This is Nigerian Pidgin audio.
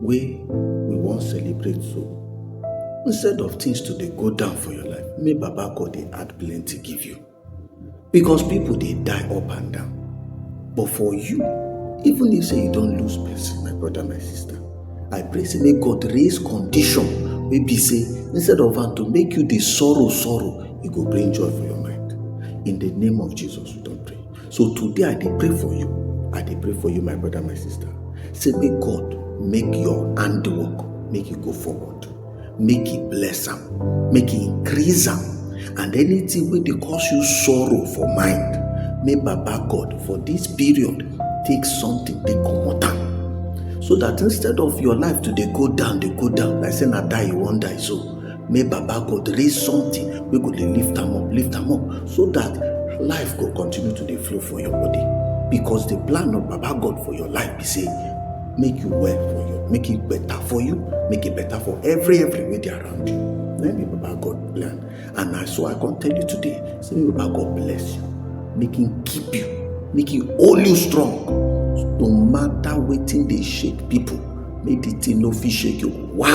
wey we wan celebrate so instead of things to dey go down for your life make baba god dey add plenty give you because people dey die up and down but for you even if say you don lose person my brother my sister i pray say make god raise condition wey be say instead of am to make you dey sorrow sorrow e go bring joy for your mind in the name of jesus we don pray So today I dey pray for you. I dey pray for you, my brother, my sister. Say make God make your handwork make you go forward. Make He bless am, make He increase am, and anything wey dey cause you sorrow for mind, make Baba God for this period take something take comot am. So that instead of your life to dey go down, dey go down, like say na die you wan die so, make baba god raise something wey go dey lift am up lift am up so that life go continue to dey flow for your body because the plan of baba god for your life be say make you well for you make it better for you make it better for every every wey dey around you na be baba god plan and na so i come tell you today say make baba god bless you make him keep you make him hold you strong no matter wetin dey shake people make the thing no fit shake you why